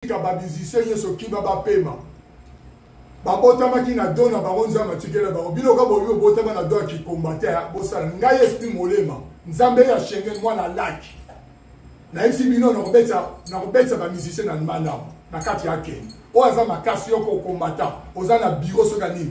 tika ba musicien nyonso kiba bapema babotamaki na do na bango nzambe atikela bango bino ka bobi obotama na do ya kikombate bosala ngai esprit molema nzambe ya shengen mwana laki nayebisi bino nakobetisa bamusicien na malamu na kati ya kende oyo aza makasi yoko okombata oza na biro soki ya nini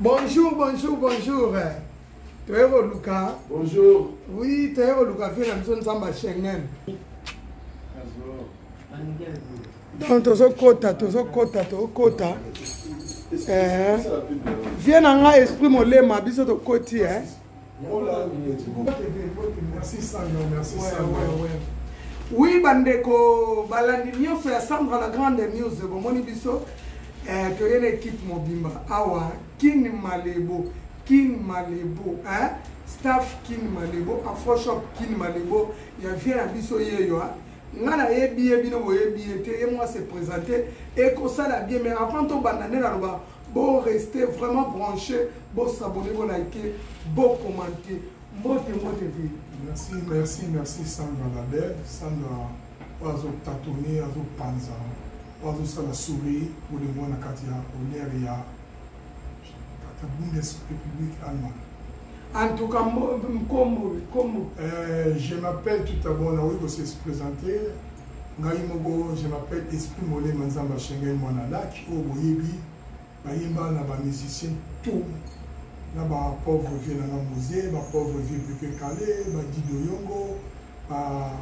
Bonjour, bonjour, bonjour. Toyeko Luka. Bonjour. Oui, Toyeko Luka fait la maison Zamba Schengen. Donc tozokota, tozokota, tozokota. Eh. Viens na nga esprit molema biso tokoti eh. oui bandeko balandi nyonso ya sandra la grande news bomoni biso eh, toye na ekipe mobimba awa kin malebo kin malebo eh? staff kin malebo afroshop kin malebo ya vie na biso yeyo ah. nga nayebi ye bino boyebi ye te ye mwa se présente ekosala bien mais avant tobanda nde naloba Bo rester vraiment branché, bo s'abonner, bo liker, bo commenter. Mbote mbote vie. Merci, merci, merci Sandra la belle. Sandra oyo azotatone azopanza oyo azosala souri bolingo na kati ya honneur ya kata bundesrepublique allemagne en tout cas nkombo nkombo euh, je m'appelle tout abord nakoki kose présenter ngai moko je m'appelle esprit molema nzambe ashengai mwana laki oyo boyebi bayemba na bamusicien tout na bapauvre vie nanga mose bapauvre vie pepe kale badido yongo ba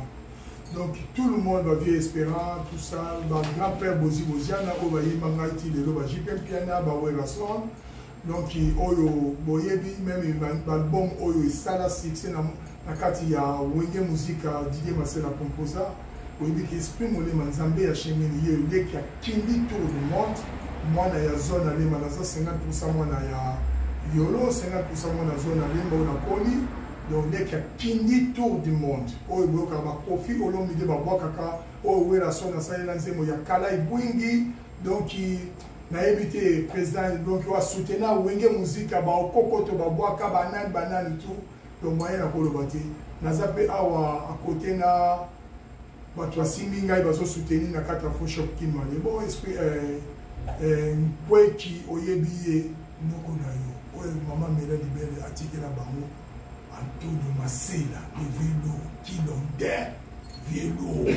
donc tout le monde bavie espérant tout ça bagrand père bozi boziana oyo bayemba ngai ti lelo bajp mpiana bawerasland donc oyo boyebi meme baalbum oyo esala succès na, na kati ya wenge muzika didier masela composa oyebi ke esprit molema nzambe ya shengeni ye leki akindi tour du monde mwana ya zone alema naza 50 mwana ya yolo 50 mwana zone alemba oyo nakoli donc leki akindi tour du monde oyo boyokaka bakofi olomide babwakaka oyo werason asalela nzembo ya kala ebwingi donc nayebi te président donc wa soutena wenge muzika baokokoto babwaka banani banani tu donc moyen na koloba te naza mpe awa akote na bato basimbi ngai bazosuteni na kati ya foshop kimale bo esprit eh, eh, nkweki oyebi ye noko na yo oyo mama mela libele atikela bango antonio masela le velo kilonde velo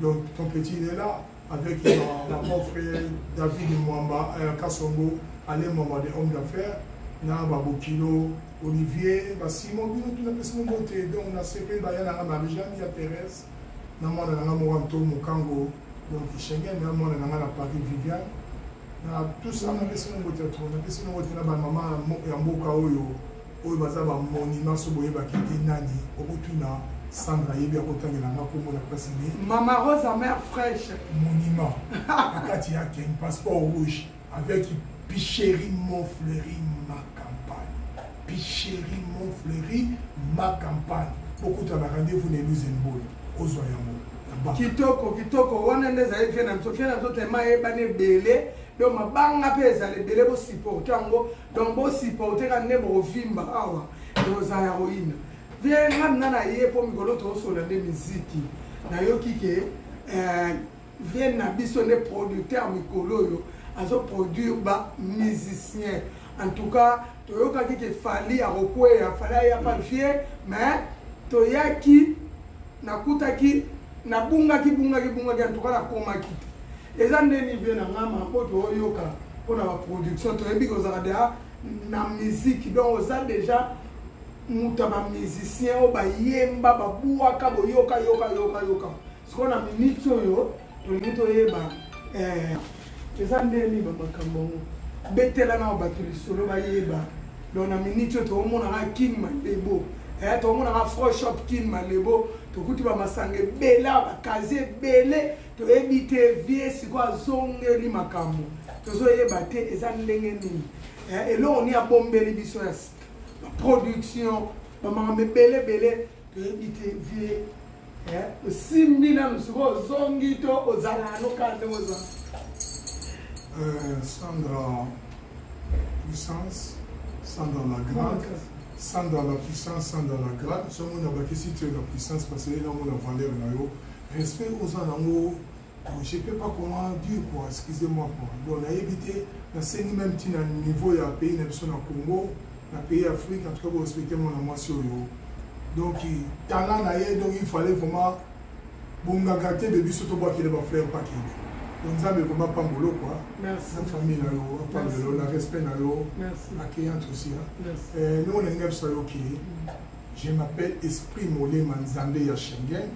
Donc ton petit il est là avec ma, ma mon frère David Mwamba euh, Kasongo, allez Mwamba des hommes d'affaires, na Babokino, Olivier, ba Simon bino tout na pesi mbote donc na CP ba yana na Marie-Jeanne ya Thérèse, na mwana na ngamo Anto Mukango, donc Schengen na mwana na ngana Paris Viviane. Na tout ça na pesi mbote trop, na pesi mbote na ba maman ya mboka oyo. oyo baza ba monument so boyebaki te nani okotuna Sandra yebi akotangela nga kombo na place ne Mama Rosa mère fraîche monument akati ya ken passeport rouge avec Picherie Montfleury ma campagne Picherie Montfleury ma campagne bokuta na rendez-vous na Eluze Mbolo ozwa yango kitoko kitoko wana nde ezali vie na biso vie na biso tema eyebani ebele donc mabanga mpe ezala ebele bosupporte yango donc bo supporter ka nde boko vimba awa boza ya roina vie nga mina na ye po mikolo tosola nde miziki nayoki ke eh, vie na biso nde producteur mikolo oyo azoproduire ba musicien en tout cas toyokaki ke fali akokweya fali aya pa vie mais toyaki nakutaki nabungaki bungaki bungaki antuka nakomaki te eza nde nive na nga mambo tooyoka mpo na baproduction toyebi kozalaka deja na miziki donc oza deja moto ya bamusicien oyo bayemba babwaka boyoka yoka yoka yoka sikoyo na miniti oyo tolingi toyeba eh, eza ndenge nini bamakambo yango betela na bato lisolo bayeba donc na miniti oyo tokomonaka king malebo eh, tokomonaka fro shop king malebo tokuti bamasanga ebele awa bakazi ebele toyebi te vie sikoyo azongeli makambo tozoyeba te eza ndenge nini eh, eloko nini abombeli biso ya sika baproduction bamakambo ebele ebele toyebi te vie osimbi nanu soki ozongi to ozala nano kaka ndenge oza sandra puissance sandra la grande sandra la puissance sandra la grande soki omona bakisi te na puissance parce eyena omona valeur na yo respect oza nango je peux pas comment dire quoi excusez moi quoi donc nayebi te nasengi même ti na niveau ya pays na biso na congo na pays ya afrique en tout cas borespecte mwana mwasi oyo donc talent na ye donc il fallait vraiment bongaka te de biso tobwakele bafrère pakende donc nzambe vraimen pambolo kua na famille na yo apambelo na respect na yo accueillante aussi ndenge onalinga biso ayoki je m'appelle esprit molema nzambe ya schengen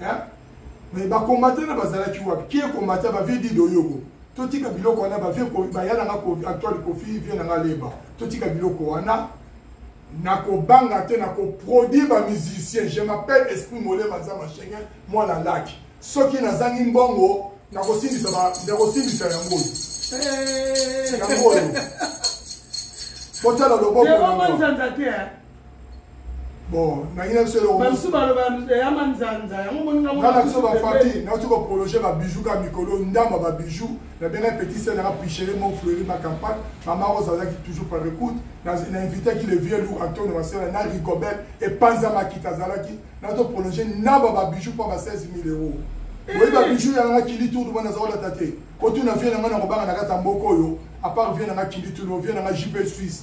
hein mais ba combattant na bazalaki wapi qui est combattant ba vie dit doyogo totika biloko wana ba vie ko ba yala nga ko actuel ko fi vie na nga leba totika biloko wana na ko banga te na ko produire ba musicien je m'appelle esprit mole maza ma chenga moi la lac soki na zangi mbongo na ko sindisa ba na ko sindisa ya mbongo eh yango botala loboko yango nzanza te hein bon nangi na biso elokobasusu baloba ya manzanza yango moningana na biso bafati nauti koprologe babijou ka mikolo ndamba babijou na bena petit sel nanga pichere mo fleuri ma campagne mama rose azalaki toujours par écoute na invitaki le vieux lou antonio masela na rigobel epanza makita azalaki na to prologe ndamba babijou mpo ba 16 000 euros eh. oyebi babijou yanga kili tour mwana azolata te kotuna vie nanga na kobanga na kati ya mboka oyo apart vie nanga kili tour vie nanga jp suisse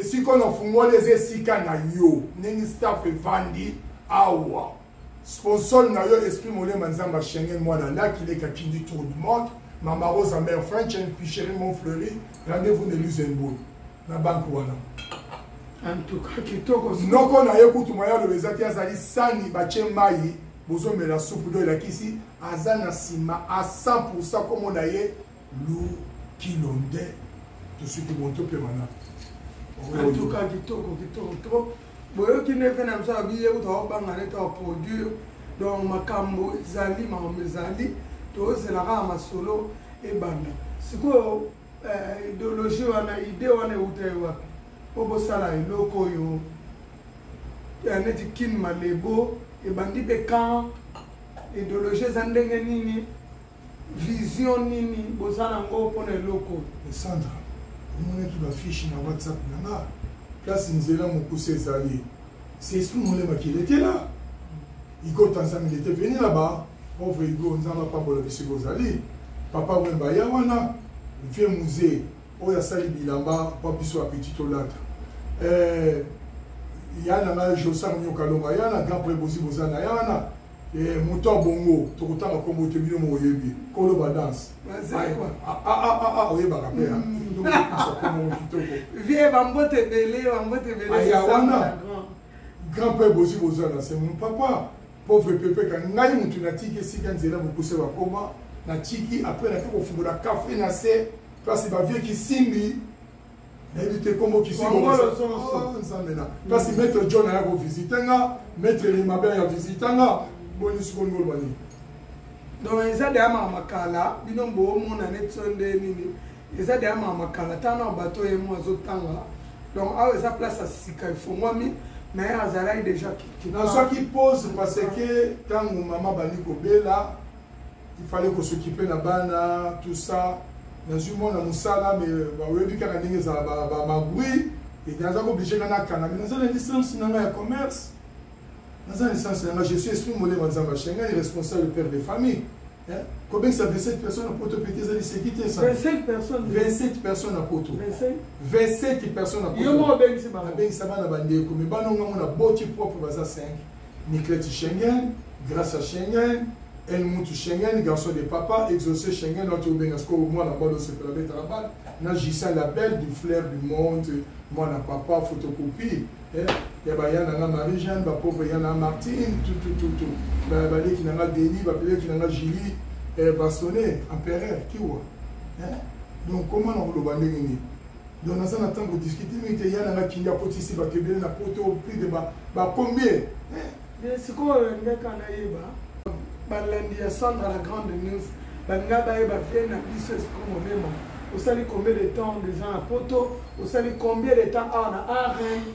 esika na fungoli eza esika na yo ndenge staff evandi awa sponsor na yo esprit molema nzamba schengen mwana laki leka kindi tour du monde mama rosa mère french and ficherie mon fleuri rendez-vous ne lusembourg na banque wana noko na ye kutu mwa yaloba eza te azali sani batye mai bozomela supu do elakisi aza na nsima a 100 komona ye lu kilonde tosuki moto mpe mana antuka kitoko kitoko trop boyoki nde mpe na biso abiye kuta obanga nete aproduire donc makambo ezali makambo ezali tozela kaka masolo ebanda sikoyo eh, ideologie wana ide wana euta ye wapi mpo bosala eloko oyo eh, neti kin malebo ebandi mpe kan ideologie eza ndenge nini vision nini boza na ngo mpo na eloko oyo sandra omonaki bafiche na whatsapp na nga place nzela mokuse ezali sesu molemaki letela igo tanzami lete veni là-bas pauvre igo nzambe apambola biso bozali papa wemba ya wana vie musée oyo asali bilamba mpo biso apeti tolata eh, ya na ngai josango nyokalonga ya na grand prebosi boza na ya wana Eh, moto ya bongo tokotanga nkombo te bino moyebi kolo badance ah, ah, ah, oyebaka mpe nkombo kitoko vie bambote ebele bambote ebeleaya wana grand père bozi boza na se mon papa pauvre pepeka ngai motu natiki esika nzela mokuse bakoma natiki apres nake kofungola kafe na se place bavie kisimbi nayebi te kombo kisinzambe na kasi maître john aya kovisite nga maître elima be aya visite nga boni sikoyo ngoloba nini donc eza deya maka makala bino boomona neti so nde nini eza deya maka makala ntango na bato ye mo azotanga donc awa eza place ya sika efongwami na ye azalaki deja nazwaki pose parce que ntango mama bandi kobela il fallait ko s'occuper na bana tout ça nazwi mwana mosala me baoyebi kaka ndenge ezala bamabri ete naza koblige nga nakanga me naza na licence na ngai ya commerce naza na licence na ngai je suis esprit molema nzambe ashe ngai responsable père de famille kobengisa 27 personnes na poto pete ezali seki te 27 personnes na poto 27 personnes na poto abengisa bana bandeko me bana onga ngo na boti propre baza 5 Nikleti Schengen, Gracia Schengen, El Mutu Schengen, Garçon de Papa, Exaucé Schengen, oyo tobenga sikoyo mwana bana osepela betaka bana, na Justin la belle du flair du monde, mwana papa, photocopie, eh, ya baya na nga Marie Jeanne, ba pauvre ya na Martine, tout tout tout tout, ba baleki na nga Denis, ba peleki na nga Julie, eh, Bastonnet, Empereur, Kiwa, eh, donc comment na koloba ndenge nini? donc naza na temps kodiscute mingi te ya nanga kindi akotisi bato ebele na poto plus de bacombien eh. sikoyo olingaka nayeba balandi ya sandra la grande news balinga bayeba vie na biso esprit molema osali combien de temps deja na poto osali combien de temps awa na arène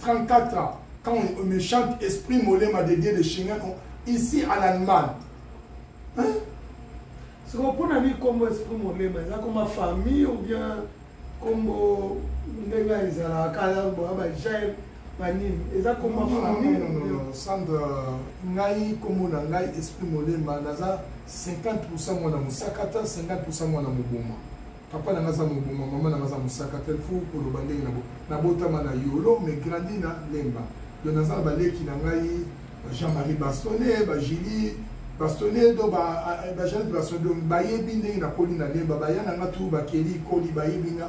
34 ans, quand on me chante Esprit Molema de Dieu de Chimien, ici à l'Allemagne. Hein? C'est pour qu'on a mis comme Esprit Molema, là comme ma famille ou bien comme ndenge ezalaka kala boya bajael banini eza koma famille sandra ngai nkombo na ngai esprit molema naza 50 pourcent mwana mosakata 50 pourcent mwana moboma papa na nga aza mobuma mama na nga aza mosaka te fo koloba ndenge na nabotama na yolo mais grandi na lemba do naza na baleki na ngai jean-marie bastonne bajili bastonne do bajanete bastonne do bayebi ndenge nakoli na lemba baya na nga tu bakeli koli bayebi nga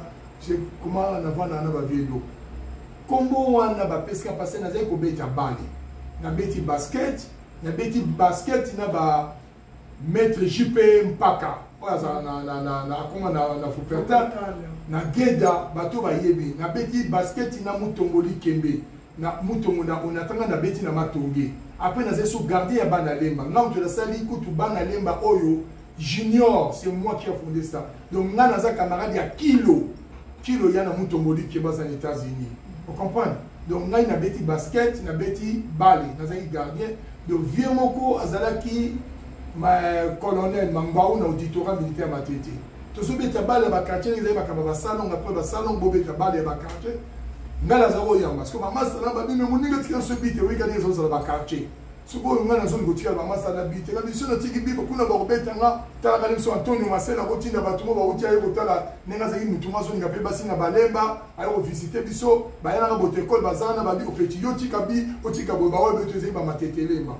koma navanda na bavie do nkombo wana bapesika mpasi nazali kobeta bale nabeti basket nabeti basket na ba Maître JP Mpaka oyo azala na na na na akoma na na Fuperta na Geda bato bayebi na beti basket na Mutombo Likembe na Mutombo na Onatanga na beti na Matonge après naza so gardien ya bana lemba ngai moto nasali kutu bana lemba oyo junior c'est moi qui a fondé ça donc nga naza camarade ya kilo kilo ya na mutomboli ke baza na états-unis o comprendre donc ngai nabeti basket nabeti bale nazalaki gardien donc vie moko azalaki ma colonel mambau na auditorat militaire matete tozobeta bale ya bakartier ezali bakamba basalonga mpe basalonga bobeta bale ya bakartier ngai nazalaki oyamba siko bamasa na babino moninga tika nso bite oyika ndenge ezozala bakartier sikoyo ngai nazongi kotikala bamasa na bite na biso natiki bibo kuna bakobeta nga talaka na biso antonio masela akotinda bato mo bauti aye kotala ndenge azalaki motu mo azolinga mpe basi na balemba aye kovisite biso bayanaka botekole bazala na babi opeti yo tika bi otika boye baoyo beto ezali bamatetelema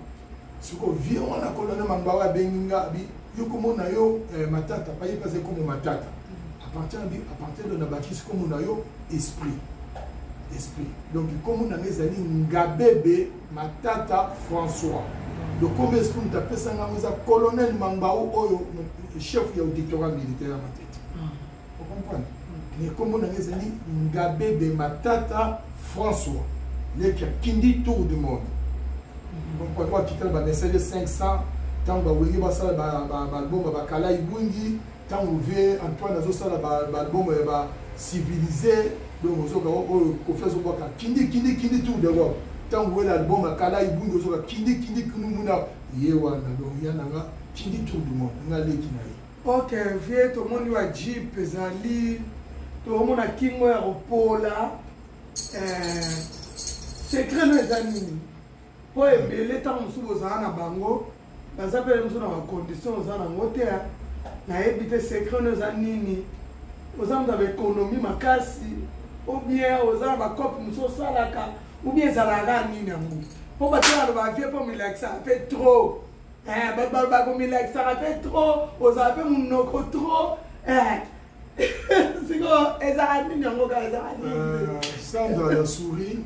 sikoyo vie wana kolona mambawa abengi nga abi yo komona yo eh, matata paye mpe azali komo matata apartir abi apartir de na bakisi komona yo esprit esprit donc komona nga ezali ngabebe Matata François. Le combien est-ce que apesa nga oza colonel Mambao oyo chef ya auditorat militaire na tete. Ah. Vous comprenez? Mais comme on a les amis Ngabe de Matata François. Les qui a kindi tour du monde. Vous comprenez quoi qui t'a ba message 500 tant ba wenge ba sala ba ba ba bomba ba kala ibungi Tango vie Antoine azo sala ba ba album ya ba civilisé donc ozoka oyo kofi azo bwaka kindi kindi kindi tour d'Europe. Tango wela album ya kala ibundi ozoka kindi kindi kunu muna ye wana donc ya nanga kindi tour du monde nga leki na ye. Ok vie tomoni wa jeep ezali tomona kingo ya kopola eh, secret no eza nini mpo ebele ntango mosusu bozala na bango naza mpe mosu na bacondition oza nango te nayebi te secret no eza nini oza moto ya baekonomi makasi obien oza na bacope mosu osalaka obien ezalaka nini yango mpo bato baloba vie mpo milakisaka mpe trop eh, bakomilakisaka mpe trop ozala mpe monoko trop eh, Euh, sandra ya souri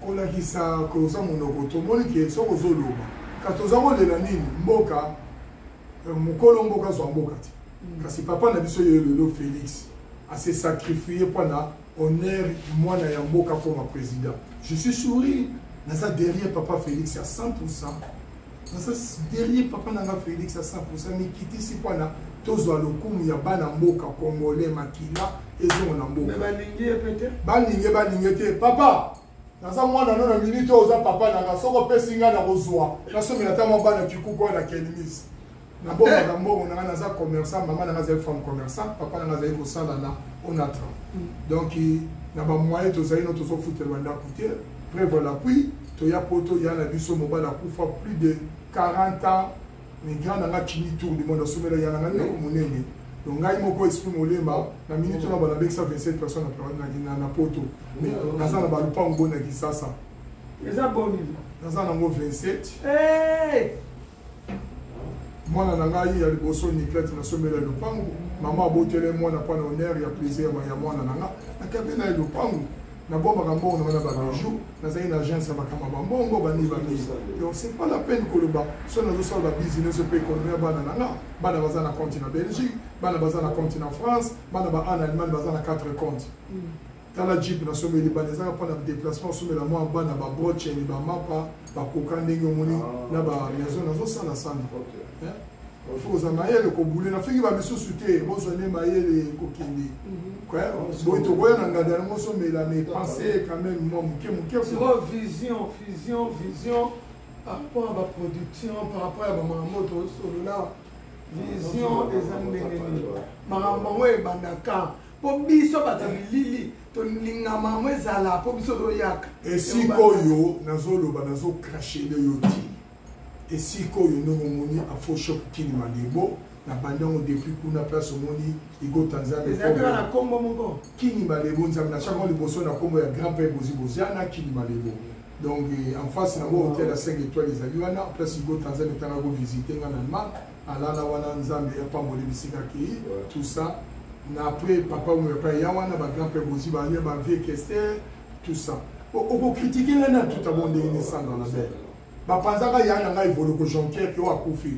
kolakisa koza monoko tomoni ke soki ozoloba kasi toza kolela nini mboka euh, mokolo mboka azwa mboka te mm. kasi papa na biso ye lelo félix ase sacrifie mpo na honneur mwana ya mboka akoma président je suis souri naza derrière papa félix ya 100 pourcent naza derrière papa na nga félix a 100 mikitisi mpona tozwa lokumu ya bana mboka congolais makila ezongo na mboka balinge balinge te papa naza mwana no na minute oyo oza papa nanga soko opesi ngai nakozwa nasomela ata mwa bana kikuku oyo na kelmis nabombaka mbongo na ngai naza commerçant mama na ngai azali femme commerçant papa na ngai azali kosala na onatra mm. donc na bamoyen tozali no tozofutela bandako te preuve lapui toya poto ya na biso mobali akufa plus de 40 ans migrant na ngai kini tour du monde asomela ya na ngai ndako monene donc ngai moko esprit molema na minute wana banabekisa 27 personnes na poto mais naza na balupango bo na kisasa naza nango 27 mwana na ngai ya liboso niklete nasombela ye lopango mama abotele mwana mpo na honere ya plaisir ya mwana na nga nakabe na ye lopango nabombaka mbongo na nga na babijou nazali na agence ya makambo ya bambongo bani bani donc c'est pas la peine koloba so nazosala babusiness mpe ekonomi ya bana na nga bana baza na compte na belgique bana baza na compte na france bana ba en allemagne baza na 4 compte tala jeep na someli bana ezaka mpo na déplacement osomela mwa bana babroceni bamapa bakoka ndenge omoni ah. na bamaison nazosala sana fo oza mayele kobule nafingi bamisusu te bozwa nde mayele kokende mhm. ah, boye tokoya na ngada yango osomela mais pense quand même mwa moke moke vision vision vision par rapport ya baproduction par rapport ya bamakambo tosolola vision eza ndenge nini makambo yango ebandaka mpo biso bato ya bilili tolingama yango ezala mpo biso toyaka esika oyo nazoloba nazokrashele yo ti esika oyo ndenge omoni afoshop kini malembo na bandi yango depuis kuna place omoni igota nzambeezalaa nkombo moko kini malembo nzambe na chango liboso na nkombo ya grand père bozi boziana kini malembo donc eh, en face nango hotel ya 5 étoile ezali wana place igota nzambe etangako visite nga na allemagne alala wana nzambe apamboli bisika akei tout ça na après papa oyo epai ya wana bagrand mpe bozi baye bavie kester tout ça okokritike ngai na tout abo ndenge nesandra na bele bapanzaka ya na ngai evoloko jonker mpe oyo akufi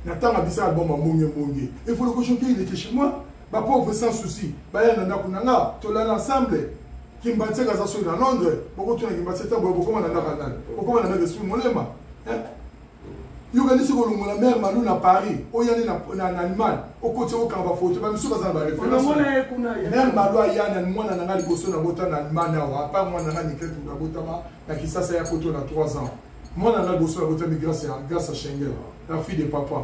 na ntango abisa album amonge monge evoloko jonker il était chez moi bapauvre sans souci baya na ndako na nga tolala ensemble kimbanseka aza soki na londres bokotuna kimbanseka boye bokoma na ndaka nani bokoma na ndaka esprit molema yo kanisi kolongola mare malu na paris oyani na allemagne okoti okanga bafoto bamisu baza na bareferencemare malu ayana mwana na ngai liboso nabota na allemagne awa apart mwana na ngai nikete nabotama na kisasa ya poto na 3 ans mwana na ngai liboso nabotami grâce ya schengen la fille de papa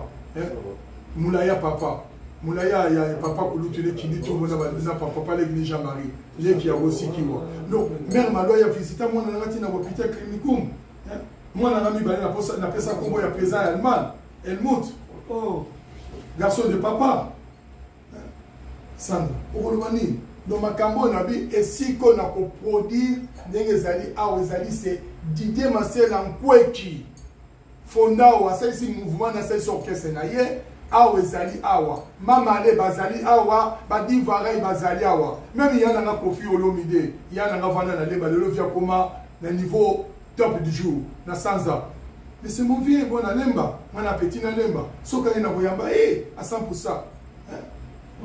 molai ya papa molai ya papa kulutu lekindi tomona na papa legini jean marie leki ya bosikiwa donc mare malu aya visita mwana na ngai ntina bopital clinicum eh, mwana na mibale napesa nkombo ya président ya allemagne helmut oh. garçon de papa eh, sandra okoloba nini donc makambo oyo nabi esika oyo nakoproduire ndenge ezali awa ezali se didier masela nkweki fondao asalisi mouvement na asalisi orchestre na ye awa ezali awa mamale bazali awa badivarai bazali awa meme ya nanga kofi olomide ya nanga vanda na leba lelo via koma na niveau top du jour na sanza mais c'est mon vieux bon nalemba mwana apeti nalemba soki aye na koyamba e a 100 pour ça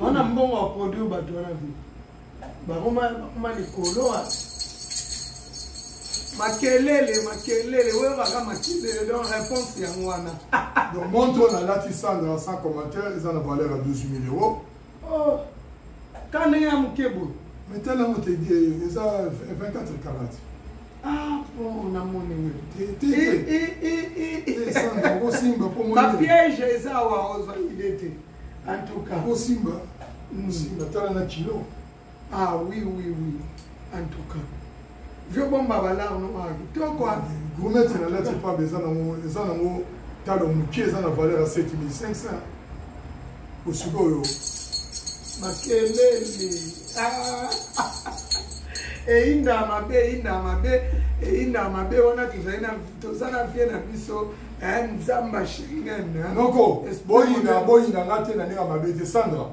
wana mbongo ya produit bato wana vi bakoma likolo wapi makelele makelele oyo baka makelele donc réponse yango wana donc montre oyo nalati sandra sans commentaire eza na valeur ya 12 000 euros oh ka ndenge ya moke boye mais tala yango te eza 24 karate ah bon namoni osimba bapiège eza awa ozwa ide te en tout cas osimba osimba tala na kilo ah oui oui oui en tout cas vieux bomba balard no ah kitoko ah. gourmette na lati pamba eza nango eza nango talo moke eza na valeur ya 7500 osikoyo makelele ah. eyinda mabe eyinda mabe eyinda mabe wana tozali na toza na vie na biso eh, nzamba shingen eh. noko boyinda boyinda nga te na ndenge ya mabe te sandra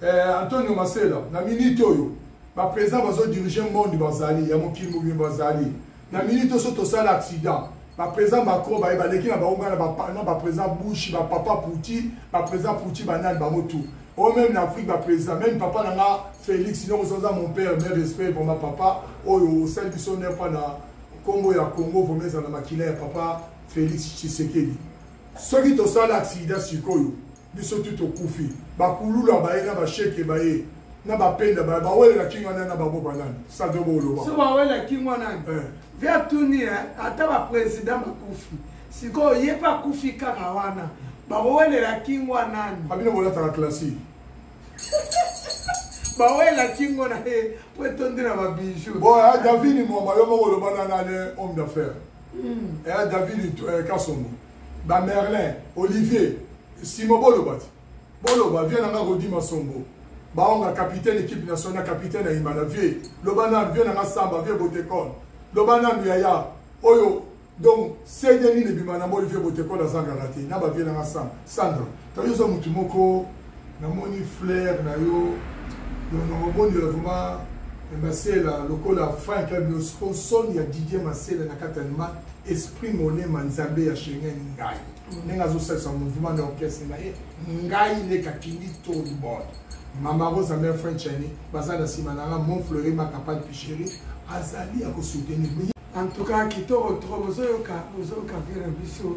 eh, antonio masela na minute oyo baprésident bazodirige monde bazali ya mokili mobimba bazali na minute oso tosala accident baprésident macron baye baleki na bango ngana bapana baprésident bushi bapapa puti baprésident puti banani bango tout oyo meme na afrique baprésident meme papa na nga félix niongo soza mon père me respect vrama papa oyo osali biso nepa na nkombo ya congo vrama ezala na makila ya papa félix tshisekedi soki tosala accident sikoyo biso tu tokufi bakulula baye na basheke baye na bapenda baye bawelela kingo nani na bango banani sadobo oloba so bawela kingo nani eh. ve atuni eh, ata baprésident bakufi sikoyo ye mpe akufi kaka wana bakowelela kingo nani abino bolataka classique bawela kingo na ye mpo etondi na babijou bo ya eh, davini mwamba yo moko olobana nani homme d'affaire ya hmm. davini kasongo ba merlin olivier simo boloba ti boloba vie na nga rodi masombo baonga capitaine équipe nationale capitaine ya imana vie loba nanu vie na nga samba vie botekon loba nanu yaya oyo donc cd nini ebima na moli vie botekon azangaka te na bavie na nga samba sandra toyoza motu moko namoni flair na yo donc nakomondela vraiment eh, masela lokola frank abinosko soni ya didier masela na kati anima esprit monema nzambe ya shengen ngai mm. ndenge azosalisa mouvement na orchestre na ye ngai nde kakindi tolibord mama rosa mère french ani baza na nsima na nga mon fleuri makapal picheri azali ya kosoutenir en tout cas kitoko trop bozoyoka bozoyoka vere biso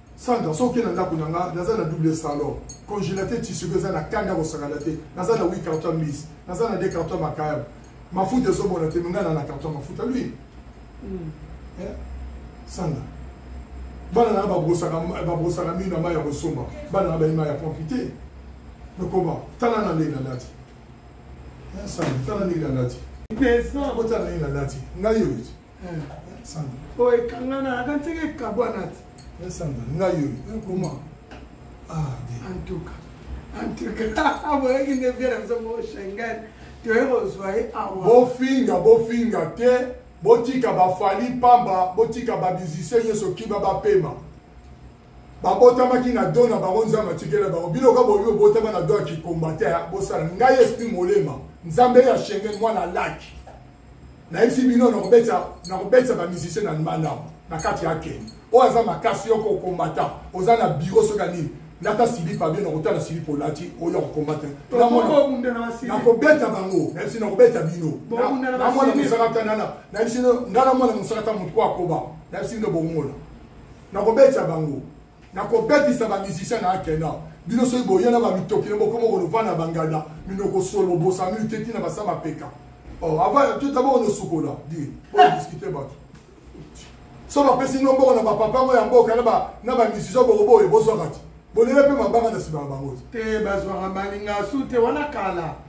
Sandra, soki okenda ndako na nga, naza na double salon, congélateur tissu eza na kanda kosakana te, naza na 8 carton mise, naza na 2 carton makayabo, mafuta ezomona te, nga na na carton mafuta lui. Mm. Eh? Sandra, bana na babosaka babosaka mino na mai ya kosomba, bana na bayi mai ya pompi te. Lokoba, tala na ndenge nalati. Eh, Sandra, tala ndenge nalati. Pesa, botala ndenge nalati. Ngai oyo. oyo ekangana aka nseke ekabwana ti esanda ngai oyo ekoma antuka antuka aboyaki nde bia na biso mo shengen toye kozwa ye awa bofinga bofinga te botika bafali pamba botika babizise nyonso kiba bapema babotamaki na do na bango nzambe atikela bango bino ka bobi obotama na do ya kikombate bosala ngai esprit molema nzambe ya shengen mwana laki nayebisi bino nakobetisa nakobetisa bamusicien na nmanao na kati ya keni oyo aza makasi yoko okombata oza na biro soki anini lata silipa bino nakotala silipa olati oyo akokombata nakobeta bango nayebisi nakobeta bino na mwana mosakata nana nayebisi nga na mwana mosakata motu ko akoba nayebisi bino bomona nakobeta bango nakobetisa ba musicien na akena bino soki boye na bamitoki na bokoma kolova na bangada minoko solo bosami te ntina basa mapeka oh, ava totaboko nosukola di odiskite bato so bapesi no mboko na bapapa yango ya mboka na bamisisio boko boye bozwaka ti bolela mpe mabanga na nsima ya bango te bazwaka malinga su te wana kala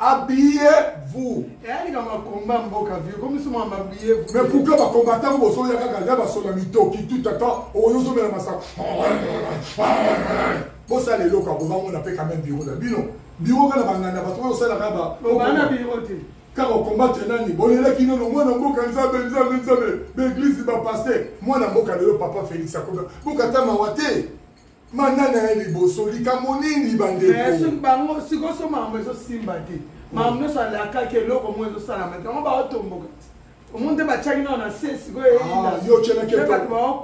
Habillez-vous. Eh, mais pourquoi va combattre vous bosso ya kaka ya basso la mito qui tout attend au yozo mela masaka. Bossa les locaux pour on a fait quand même bureau de bino. Bureau kana bangana bato oyo sala kaba. Bana bureau te. Car on combat nani bolela kino no mwana mboka nzambe nzambe nzambe. L'église va passer. Mwana mboka lelo papa Félix akoba. Bokata mawate. manda na ye liboso likambo nini bandeko sikoso makambo ezosimba te makambo nyonso alakaki eloko moko ezosalama te yango baotomboka te omo nde batiaki nao na se sikoyo ah,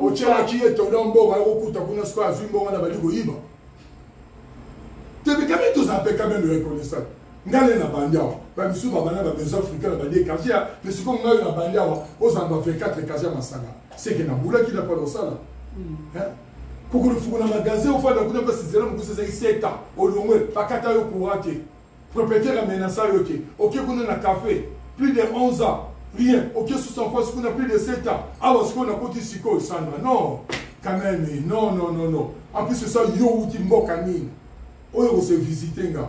otyelaki ye tondo mbongo akokuta kuna sikoyo azwi mbongo na bali koyiba tebikami tozala mpe kameme reconnaissant ngai nde nabandi awa bamisusu babanda babesoin africain na bandi ekartie ya me sikoyo ngai nabandi awa ozala ba 24 ekartie ya masanga seke nabulaki na pona osala hmm. pukulu fukuna magasin ofanda kuna mpe sizela mokusa ezali seta olongwe bakata yo courant te propriétaire amenasa yo te oke kuna na café plus de 11 ans rien oke susu en face kuna plus de 7 ans awa sikoyo nakoti sikoyo sandra non quand même non non non non en plus esa yo outi mboka nini oyo kose visite nga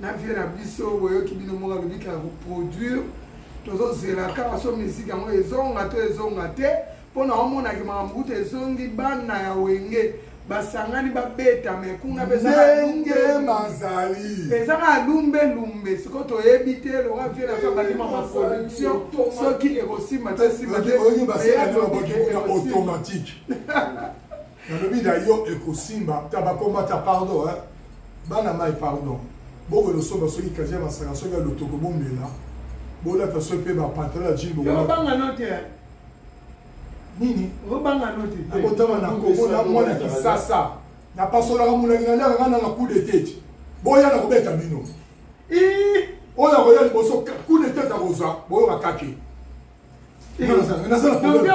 na vie na biso boyoki bino moko alobi kaka koproduire tozozela kaka so miziki yango ezonga to ezonga te mpo na omonaki makambo kuta ezongi bana ya wenge basangani babeta me kuna ezanga alumbe lumbe sikoyo toyebi te loka vie na biso bandima baproduction soki ekosimba te simba te automatique nalobi na yo ekosimba tabakomata pardon eh? bana mai pardon bokono soba soki kazi ya masaka soki ya lotoko bomela bolata soki mpe bapantalo ya jini bobanga no te nini obanga no te nakotama na kongo na mwana kisasa napasolaka molangi na liaka kana na coup de tete boya na kobeta bino oyo akoya liboso coup de tete akozwa boyoka kake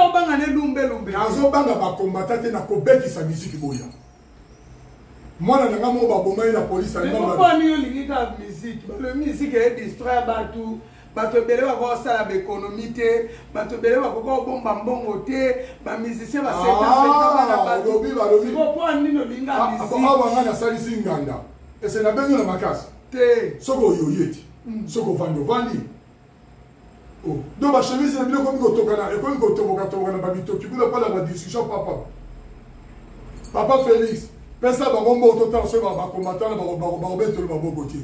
obanga ne lumbe lumbe nazobanga bakombata te na kobetisa miziki boya mwana na ngai moko baboma ye na polisi aliponi yo olingi kaka miziki balobi miziki eye distraire bato bato ebele bakoki kosala baekonomi te bato ebele bakoki kobomba mbongo te bamusicien basetalobi balobipoa nini olinga mizikawa ngai nasalisi nganda ese nabengi na makasi te soki oyoye te soki ovandi ovandi Oh, donc ba chemise na bino ekomi kotokana ekomi kotoboka toboka na ba mitoki kuna pala ba discussion papa papa Felix pesa bango mbo totala soki bakombatana bakobetelo maboko te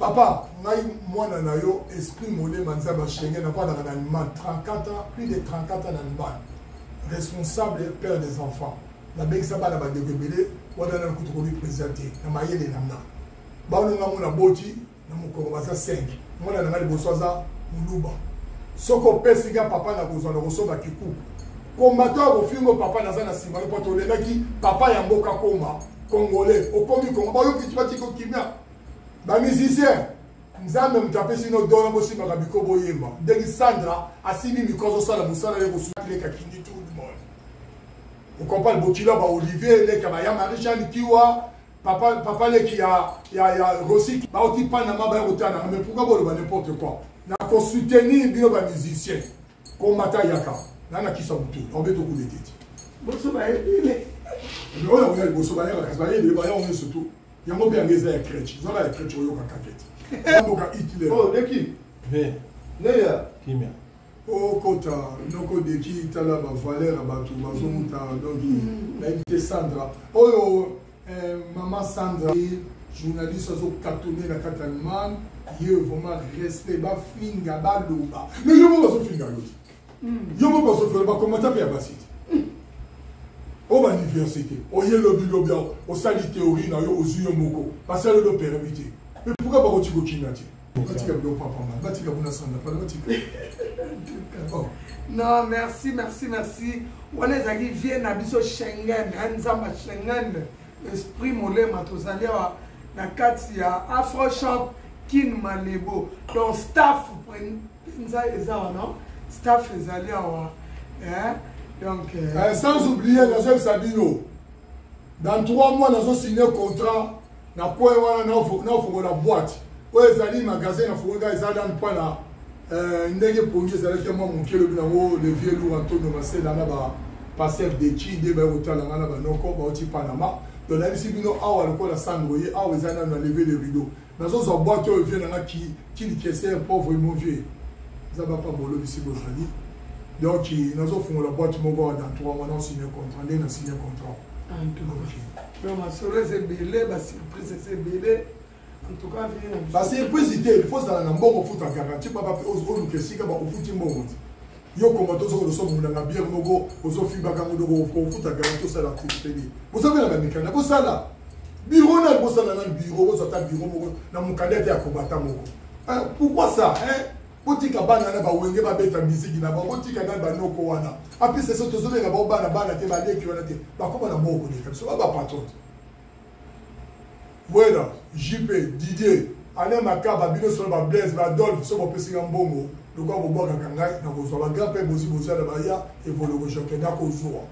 papa ngai mwana na yo esprit molema nzambe ashenge navandaka na allemagne 34 ans plus de 34 ans na allemagne responsable et père des enfants nabengisa bana bandeko ebele wana nana kutu komi président te na mayele na nga baolinga mona boti na mokongo baza 5 mwana na ngai liboso aza moluba soki opesi nga papa na kozwa na kosomba kikuku kombato ya kofingo papa naza na nsima yo mpo tolelaki papa ya mboka koma congolais okomi kongo bayoki batiki okimia bamusicien nzambe moto apesi no dona bosimbaka biko boyemba ndenge sandra asimbi miko azosala mosala ye kosuleka kindi tout le monde okompane bokilo ya baolivier eleka baya marie jeanne kiwa papa papa leki ya ya ya rosi bauti panama baya kotala nanga mais pourquoi boloba n'importe quoi na kosoutenir bino ba musicien komata yaka na na kisa butu na obe tokude tete boso bayebele oyo oya liboso bayaka kasi bayebele baya oyo surtout yango mpe yango eza ya crèche zala ya crèche oyoka kakete oyoka hitler oh leki neya kimia okota noko deki tala ba valeur ya bato bazomuta donc mm. nayebi te sandra oyo eh, mama sandra journaliste azokatone na kati allemagne ye vraiment respect bafinga baloba mais yo moko bazofinga yo te mm. yo moko bazofinga bakomata mpe ya basi te mm. o bauniversité oye lobilobi osali théorie na yo ozwi yo moko basali yo do permis te mais pourkui bakotikokina te batika biloko papamba batika kuna sanda pala batika oh. non merci merci merci wana ezalaki vie na biso schengen nzamba schengen esprit molema tozali awa na kati ya afrochamp kin malebo donc staff mpenza eza wana staff ezali awa donc euh, eh, sans oublier nazobisa bino dans trois mois nazosigne contrat na coin wana naofongola boite oyo ezali magasin nafongolaka eza dane mpana euh, ndenge pongi ezalaki mwa moke elobi nango le vieux lour antonio masela na ba pasteur dechi nde baye kotala ngai na banoko bauti panama donc nayebisi bino awa lokola sandro ye awa eza nano na leve le rideau nazozwa boite oyo vieux nanga kilikeser pauvre mon vieux eza bapa bolobisi bozali donc nazofungola boite moko awa dans trois mois naosigne contrat nde nasigne contrat Non, ma solo eza ebele ba surprise eza ebele basurprise te fo ozala na mbongo ofuta garanti papa mpe oluka esika bakofuti mbongo te yo koma tozoko losomonanga biere moko ozofibaka ngo doko ofuta garanti osala tele bozobela bamikanda bosala biro nani bosala na biro bozwa ata biro moko na mokanda te ya kobata moko pourquoi ça hein? botika bana na bawenge babeta miziki na bango botika nani banoko wana apesa so tozobenga bango bana bana te baleki wana te bakoma na moko koleka biso ba bapatron wera jp didier alain makaba bino solo bablaise badolphe so bopesika mbongo lokola bobwakaka ngai nakozwa bagra mpe bozi bozala baya evoloko jake nakozwa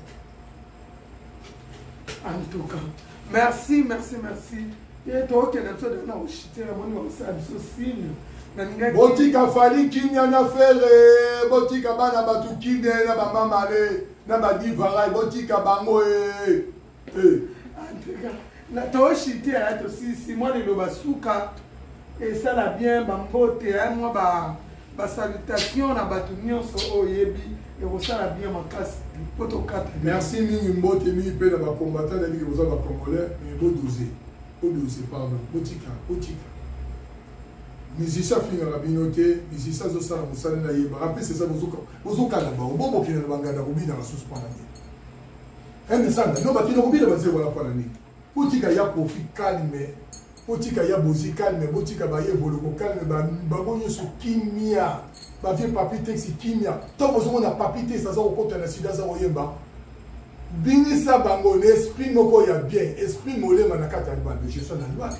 en tout cas merci merci merci ye tokende biso de na oshite namoni bakosala biso sine botika fali kimia na fere botika bana bato kine na bamamale na badivarai botika bango e na toshite ya tosisi mwana eloba suka esala bien bambote mwa ba ba salutation na bato nyonso oyo oyebi ekosala bien makasi mpo tokata merci mingi mbote mingi mpe na bakombata na mingi boza bacongolais mais bodose bodose pardon botika botika musicien afingaka bino te musicien azosala mosala na ye barapese eza bozokala bango bobokenda na banganda kobina basusu mpona nini emesanga no bakenda kobina bazee wana mpona nini Botika ya kofi calme, botika ya bozi calme, botika baye voloko calme, bango nyonso kimia. Ba vieux papi texi kimia. Tant bozongo na papi texi aza kokota na sida aza koyemba. Bingisa bango na esprit moko ya bien, esprit molema na kati ya libanda. Je suis na libanda.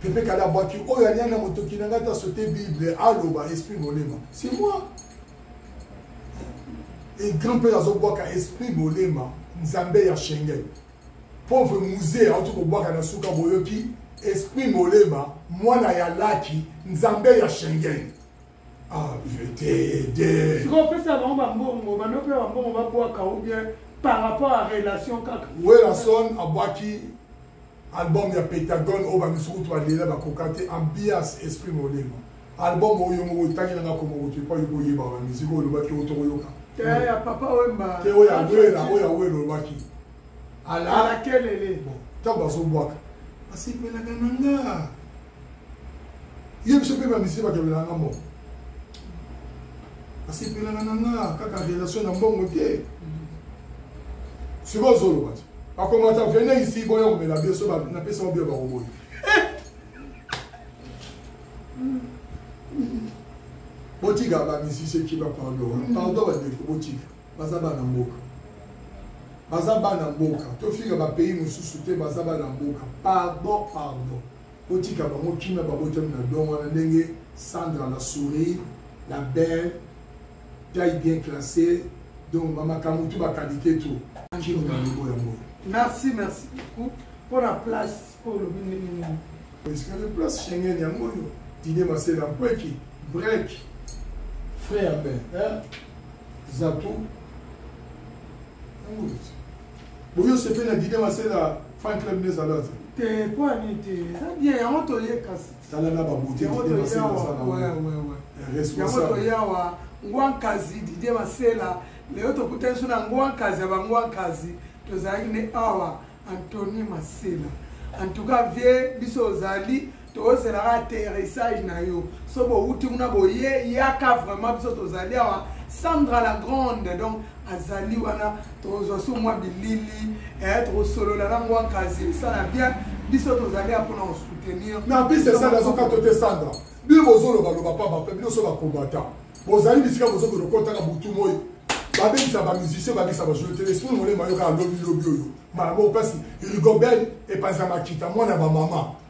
Pepe Kalabaki, oyo alianga motoki na ngai ta sote Bible, aloba esprit molema. C'est moi. et grand père azobwaka esprit bolema nzambe ya schengen pauvre musee auti kobwaka na suka boyoki esprit molema mwana ya laki nzambe ya schengen sikoyo opesa bango bambongo banope bambongo babwaka ou bien par rapport à relation kaka werason abwaki Album ya Pentagone oyo bamisusu kutu balela bakoka te ambiance esprit molema album oyo yo moko otangi nanga komoko te epai okoki oyeba ba musique oyo olobaki oyo tokoyoka te ya papa wemba te oyo awela oyo awela olobaki ala alakelele ntango bazobwaka basepelaka na nga ye biso mpe bamisi bakabelana nga mbongo asepelana na nga kaka relation na mbongo te sikoyo ozoloba te bakomata vene isi boya komela biso napesa mobia bakoboyi botika bamisisi kiba pardon mm. pardon bandeko botika baza bana mboka baza bana mboka tofika bapays mosusu te baza bana mboka pardon pardon Botika bango kimia babotami na don wana ndenge Sandra la souris la belle taille bien classée donc bamakambo tu bakalite tu angino na lobo yango merci merci beaucoup mpo na place oyo olobi ndenge nini esikale place schengen yango oyo dide masela mpweki brek frère ben zato yango boyo sepe na dide masela fan club nde ezala te te mpo ya nini te eza bien yango toye kasi tala na babote yango toyawa ngwankazi didie masela lelo tokutani so na ngwankazi ya bangwankazi tozalaki ne awa antony masela en tout cas vie biso ozali tozela kaka atterrissage na yo so bowuti kuna boye yaka vraiment biso tozali awa sandra la grande donc azali wana tozwa so mwa bilili eh, tokosolola na ngwa kasi esala bien biso tozali ya mpona kosoutenir na biso esala azokato te sandra bino bozolobaloba mpa bape bino so bakombata bozali bisika bozokokotaka butu moi babebisa bamusicien babisa bajoueur te esprit molema yoka alobilobi oyo mala moko mpasi rigobel epanza makita mwana bamama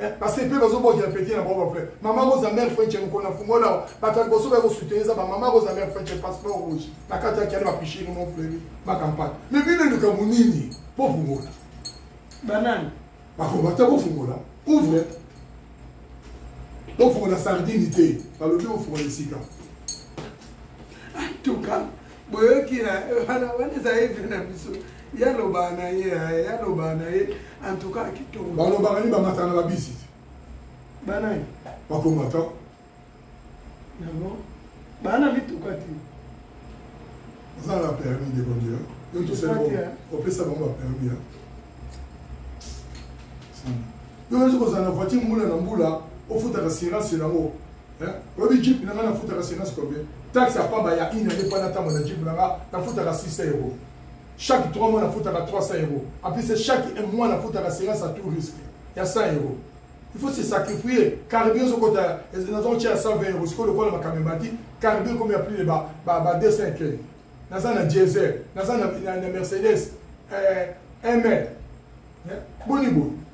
Eh, parce que mpe bazobokela peti na bango bavrai mama rosa mare frenche mokona fungola bato ya liboso baye kosutene eza bamama rosa mare frenche passeport rouge na kati ya kiani bapichini mon frere bakampane me bino likambo nini mpo fungola banani bakoba te bofungola ouvre bofungola sardine te balobi bofungola esika antuka boyoki na wana wana ezali mpe na biso yaloba na ye yaloba na ye antuka kitoko balobaka nini bamataka na babisi banani bakomata yango bana mituka te oza na permis de conduire yo tosali opesa bango bapermis ya yo ozi kozala na voiture mbula na mbula ofutaka sirase yango Hein? Oyebi jeep na nga nafutaka senasi combien? Taxe ya pamba ya une année pana ntango na jeep na nga nafutaka 600 euros. Chaque 3 mois nafutaka 300 euros. En plus chaque mois nafutaka senasi à tout risque ya 100 euros. il faut se sacrifier carburant ezokota nazokotya ya 120 euros sikoyo lokola makambo emati carburant ekomi ya plus de ba 200 ekeli naza na diesel naza na mercedes eh, ml eh, boni boye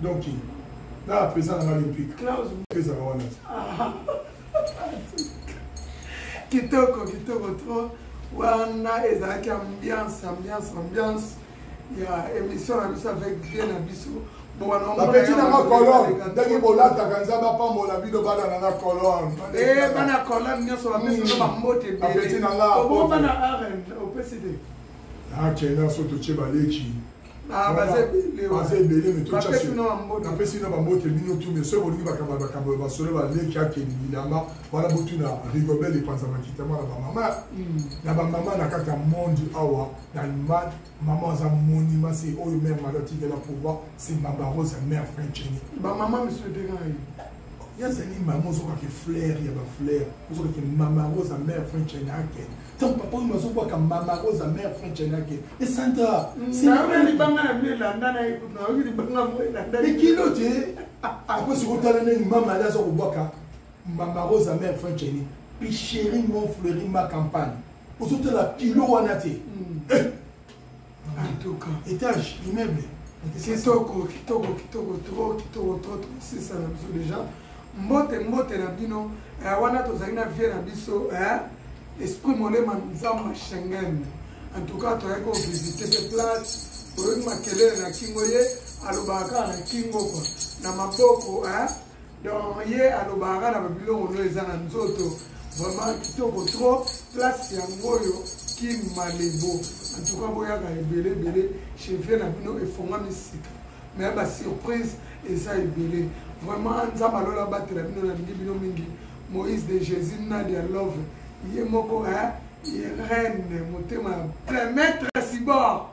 donc na apesa nanga olympique ezaka wana kitoko kitoko trop wana ezalaki ambiance ambiance ambiance ya émission na biso avec vie na biso bapeti nanga colone ndenge bolataka nzambe apambola bino bana nanga colone eh, bana colone nyonso bapesino bambote hmm. bapeti nanga obobana arn opesi te akenda so totie baleki Ah, baza ebele napesi na bambote bino tu mais soki bolingi bakamba bakambo ya basolo baleki akeli bilamba wana botuna rigobel epanza makitama na bamama hmm. na bamama na kati ya monde awa na allemagne mama aza monima se oyo mare mari atikela pouvoir se mama rose ya mare frenceni bamama misudegai yazali mama ozokaki flaire ya baflaire ozokaki mama rose ya mare frenceni akende donc papa oyo azobwaka mama rosa mare french anake esanta libanga na bino elandana nayoki libanga mo elandana ekilo te apres sikotala ndenge mama ali aza kobwaka mama rosa mare french ani picheri mon fleuri ma campagne ozotala kilo wana te mm. eh! en tout cas étage immeuble kitoko kitoko kitoko trop kitoko trop trop sisa na biso déjà mbote mbote na bino eh, wana tozali na vie na biso eh, esprit molema nzambe schengen en tout cas toyaki kovisite mpe place oyoki makelele na kingo ye alobaka kaka na kingo kwa na maboko eh, donc ye alobaka na babiloko no eza na nzoto vraiment kitoko trop place yango oyo kim malebo antuka boyaka ebele ebele chevie na bino efongami sika me basurprise eza ebele vraiment nzambe alola abatela bino nalingi bino mingi moïse de jésus nadia love ye moko ye reine motema ya plein maître sibor